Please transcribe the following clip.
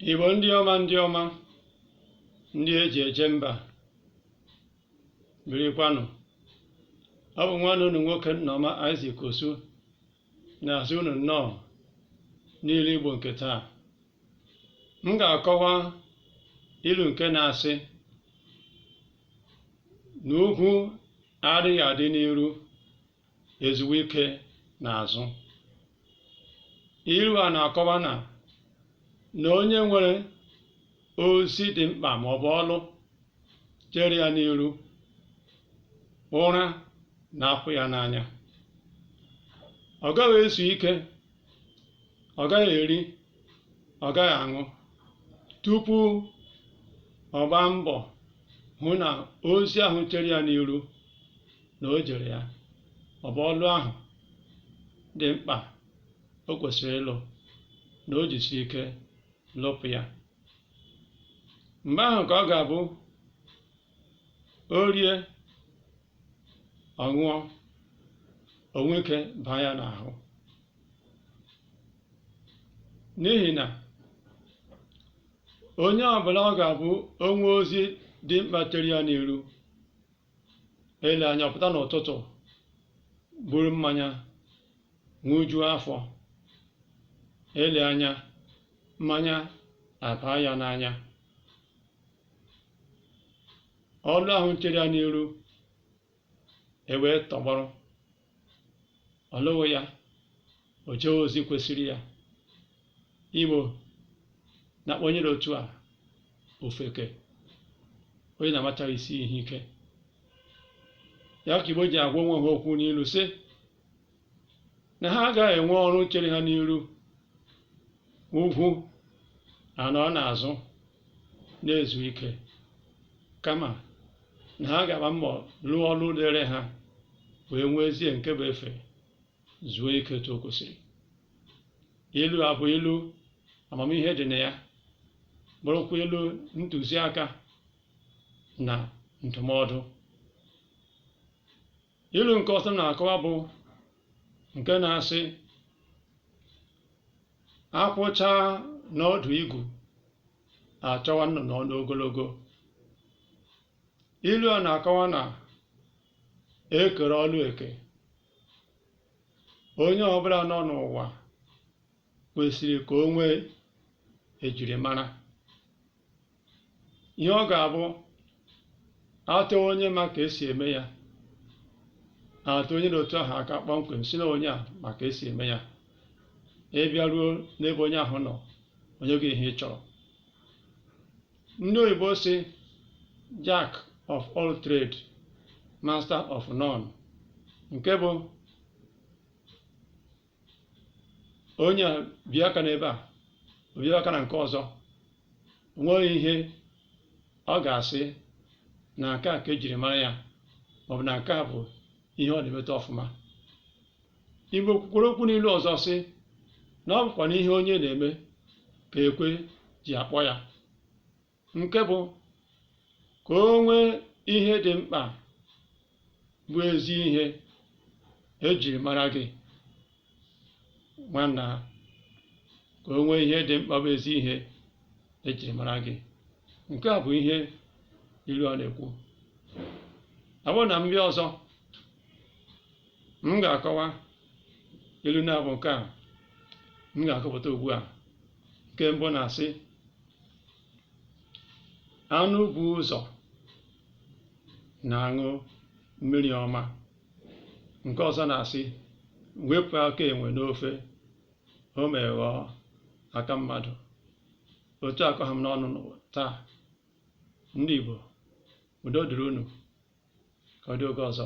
Igbo ndị ọma ndị ọma ndị eji eje mba birikwanụ ọ bụ nwanne unu nwoke Nneoma Isaac Osu na-asị unu nnọọ n'ilu Igbo nke taa m ga-akọwa ilu nke na-asị na ugwu adịghị adị n'iru ezuwe ike n'azụ ilu a na-akọwa na na onye nwere ozi dị mkpa ma ọ bụ ọlụ chere ya n'iru ụra na-apụ ya n'anya ọ gaghị ezu ike ọ gaghị eri ọ gaghị aṅụ tupu ọ gbaa mbọ hụ na ozi ahụ chere ya n'iru na o jere ya ọ bụ ọlụ ahụ dị mkpa o kwesịrị ịlụ na o jisi ike lụpụ ya mgbe ahụ ka ọ ga-abụ o rie ọ ṅụọ o nwee ike baa ya n'ahụ n'ihi na onye ọbụla ọ ga-abụ o nwee ozi dị mkpa chere ya n'iru ele anya ọ pụta n'ụtụtụ buru mmanya ṅụjuo afọ ele anya mmanya abaa ya n'anya ọlụ ahụ chere ya n'iru ewee tọgbọrọ ọ lụghị ya o jee ozi kwesịrị ya igbo na-akpọ onye dị otu a ofeke onye na-amachaghị isi ihe ike ya ka igbo ji agwa onwe ha okwu n'ilu sị na ha agaghị enwe ọrụ chere ha n'iru ugwu anọ n'azụ na-ezu ike kama na ha ga-agba mbọ lụọ ọlụ dịrị ha wee nwezie nke bụ efe zuo ike otu o kwesịrị ilu a bụ ilu amamihe dị na ya bụrụkwa ilu ntụziaka na ndụmọdụ ilu nke ọzọ m na-akọwa bụ nke na-asị akwụ chaa n'ọdụ igu achọwa nnụnụ ọnụ ogologo ilu a na-akọwa na ekere ọlụ eke onye ọbụla nọ n'ụwa kwesịrị ka o nwee ejirimara ihe ọ ga-abụ atọ onye ma ka esi eme ya a tụọ onye n'otu ahụ aka kpọmkwem sị na onye a ma ka esi eme ya ị bịaruo n'ebe onye ahụ nọ o nye gị ihe ị chọrọ ndị oyibo sị jack of all trade master of none nke bụ onye a bie aka n'ebe a o bie aka na nke ọzọ o nweghị ihe ọ ga-asị na nke a ka ejiri mara ya maọbụ na nke a bụ ihe ọ na-emeta ọfụma Igbo kwukwara okwu n'ilu ọzọ sị na ọ bụkwa n'ihe onye na-eme ka ekwe ji akpọ ya nke bụ ka o nwee ihe dị mkpa bụ ezi ihe ejiri mara gị nwanna ka o nwee ihe dị mkpa bụ ezi ihe ejiri mara gị nke a bụ ihe ilu a na-ekwu ọ bụrụ na m bịa ọzọ m ga-akọwa ilu naabọ nke a m ga-akọpụta ugbu a nke mbụ na-asị anụ bu ụzọ na-aṅụ mmiri ọma nke ọzọ na-asị wepụ aka enwe n'ofe o mee ghọọ aka mmadụ otu a ka ọ ha m n'ọnụ n'ụwa taa ndị Igbo udo dịrị unu ka ọ dị oge ọzọ